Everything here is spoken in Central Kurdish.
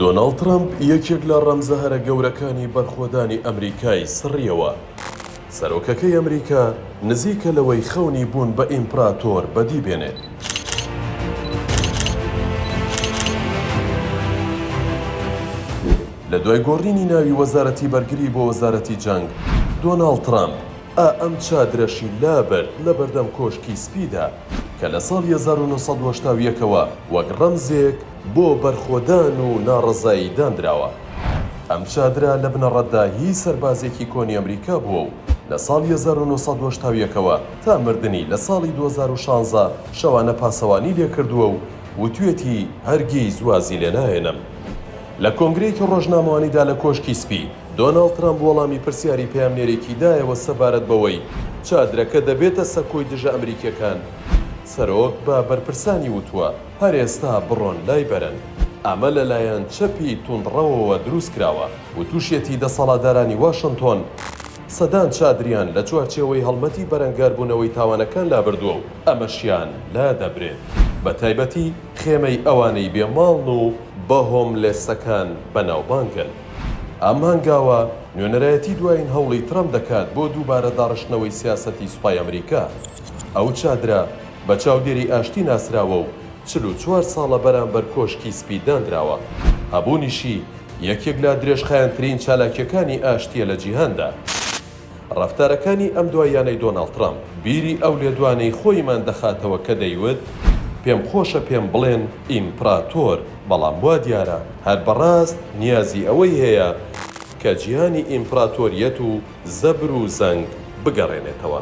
دۆناڵد ترەمپ یەکێک لە ڕەمزە هەرە گەورەکانی بەرخۆدانی ئەمریکای سڕیەوە. سەرۆکەکەی ئەمریکا نزیکە لەوەی خەونی بوون بە ئیمپراتۆر بەدی بێنێت. لە دوای گۆڕینی ناوی وەزارەتی بەرگری بۆ وەزارەتی جەنگ، دۆناڵد ترەمپ ە ئەم چادرەشی لابرد لە بەردەم کۆشکی سپیدا کە لە ساڵی هەزار و نۆ سەد و هەشتا و یەک ەوە وەک ڕەمزێک بۆ بەرخۆدان و ناڕەزایی داندراوە. ئەم چادرە لە بنەڕەتدا هی سەربازێکی کۆنی ئەمریکا بووە و لە ساڵی هەزار و نۆ سەد و هەشتا و یەک ەوە تا مردنی لە ساڵی دوو هەزار و شانزە شەوانە پاسەوانی لێکردووە و وتوێتی هەرگیز وازی لێناهێنم. لە کۆنگرەیەکی ڕۆژنامەوانیدا لە کۆشکی سپی، دۆناڵد ترەمپ وەڵامی پرسیاری پەیامنێرێکی دایەوە سەبارەت بەوەی چادرەکە دەبێتە سەکۆی دژە ئەمریکییەکان، سەرۆک بە بەرپرسانی وتووە، هەر ئێستا بڕۆن لای بەرن. ئەمە لەلایەن چەپی توندڕەوەوە دروستکراوە وتوشیەتی دەسەڵاتدارانی واشنتۆن سەدان چادریان لە چوارچێوەی هەڵمەتی بەرەنگاربوونەوەی تاوانەکان لابردووە و ئەمەشیان لادەبرێت بە تایبەتی خێمەی ئەوانەی بێ ماڵن و بە هۆملێسەکان بەناوبانگن. ئەم هەنگاوە نوێنەرایەتی دوایین هەوڵی ترەمپ دەکات بۆ دووبارە داڕشتنەوەی سیاسەتی سوپای ئەمریکا. ئەو چادرە، بە چاودێری ئاشتی ناسراوە و چل و چوار ساڵە بەرامبەر کۆشکی سپی داندراوە. هەبوونیشی یەکێک لە درێژخایەنترین چالاکییەکانی ئاشتییە لە جیهاندا. ڕەفتارەکانی ئەم دواییانەی دۆناڵد ترەمپ، بیری ئەو لێدوانەی خۆیمان دەخاتەوە کە دەیوت، پێم خۆشە پێم بڵێن ئیمپڕاتۆر، بەڵام وا دیارە هەر بەڕاست نیازی ئەوەی هەیە کە جیهانی ئیمپڕاتۆرییەت و زەبر و زەنگ بگەڕێنێتەوە.